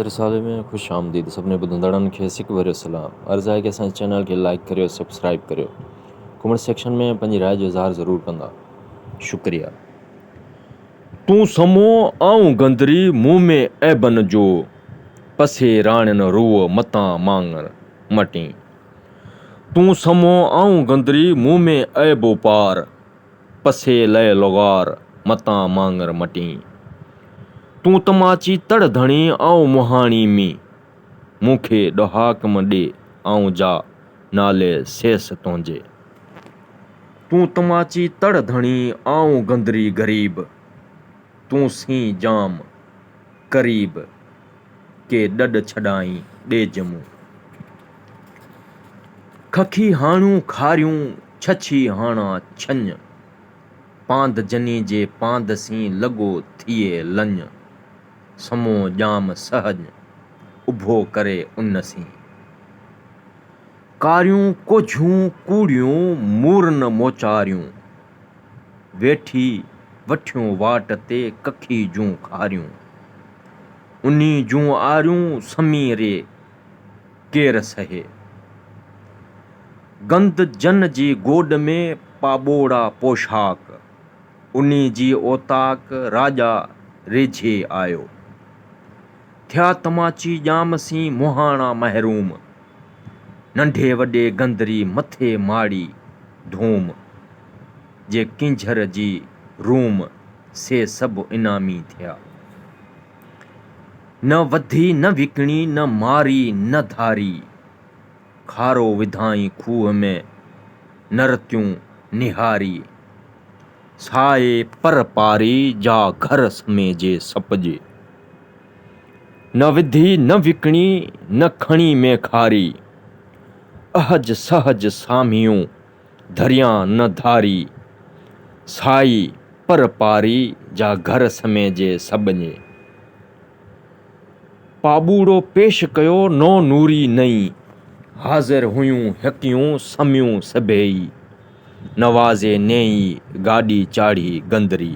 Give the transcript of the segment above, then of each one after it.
رسالي ۾ خوش آمديد سڀني ٻڌندڙن کي سڪ ڀريو سلام عرض آهي ڪي اسان جي چينل کي لائيڪ ڪريو سبسڪرائيب ڪريو ڪمينٽ سيڪشن ۾ پنهنجي راء جو اظهار ضرور ڪندا شڪريا. تون سمو آئون گندري مون ۾ عيبن جو پسي راڻين روء متان ماڱر مٽين تون سمو آئون گندري مون ۾ عيب و پار. پسي لئي لغار، متان ماڱر مٽين. تون تماچي تڙ ڌڻي، آئون مهاڻي مين. مون کي ڏهاڪ م ڏي، آئون جا، نالي سيس تنهنجي. تون تماچي تڙ ڌڻي، آئون گندري غريب. تون سين جام قريب. ڪي ڏڏ ڇڏائين ڏيج مون. ککي هاڻيون کاريون ڇڇي هاڻا ڇڃ. پاند جني جي پاند سين لڳو ٿئي لڃ. سمو ڄام سهڃ اڀو ڪري ان سين. ڪاريون ڪوجهون ڪوڙيون مورن موچاريون. ويٺي وٺيون واٽ تي ککي جون کاريون. انهي جون آريون سمي ري ڪير سهي. گند جن جي گوڏ ۾ پاٻوڙا پوشاڪ، انهي جي اوطاق راڄا ريجهي آيو. ٿيا تماچي ڄام سين مهاڻا محروم. ننڍي وڏي گندري مٿي ماڙي ڌوم، جي ڪينجهر جي روم، سي سڀ انعامي ٿيا. نه وڌي نه وڪڻي نه ماري نه ڌاري، کارو وڌائين کوهه ۾ نرتيون نهاري، سائي پر پاري جا گهر سميجي سپجي. نه وڌي نه وڪڻي نه کڻي مين کاري، اهج سهج سامهيون ڌريان نه ڌاري، سائي پر پاري جا گهر سميجي سٻڃي، پاٻوڙو پيش ڪيو نو نوري نئين، حاضر هيون هڪيون سميون سڀيئي، نوازي نيئي گاڏي چاڙهي گندري.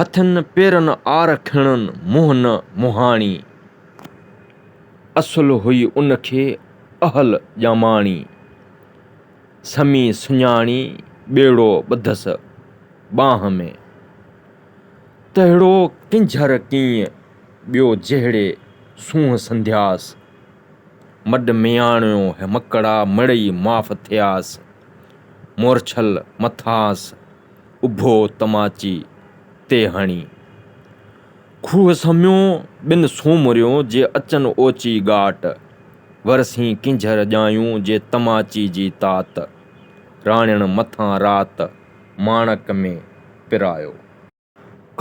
هٿن پيرن آر کڻن منهن نه مهاڻي. اصل هئي ان کي اهل ڄاماڻي. سمي سڃاڻي ٻيڙو ٻڌس ٻانهن ۾. تهڙو ڪنجهر ڪيئن ٻيو جهڙي سونهن سنڌياس. مڏ مياڻيو هي مڪڙا مڙئي معاف ٿياس. مورڇل مٿانس اڀو تماچي تي هڻي، کوهه سميو ٻن سومريو جي اچن اوچي ڳاٽ، ورسين ڪينجهر ڄايون جي تماچي جي تات، راڻين مٿان رات ماڻڪ ۾ پرايو.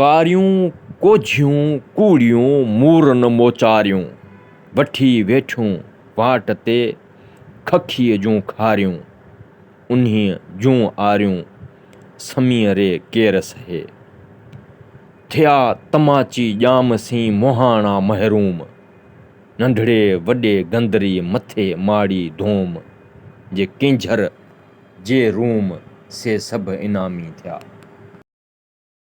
ڪاريون ڪوجهيون ڪوڙيون مورن موچاريون، وٺي ويٺيون واٽ تي ککيء جون کاريون. انهيء جون آريون سميء ري ڪير سهي. ٿيا تماچي ڄام سين مهاڻا محروم. ننڍڙي وڏي گندري مٿي ماڙي ڌوم. جي ڪينجهر جي روم سي سڀ انعامي ٿيا.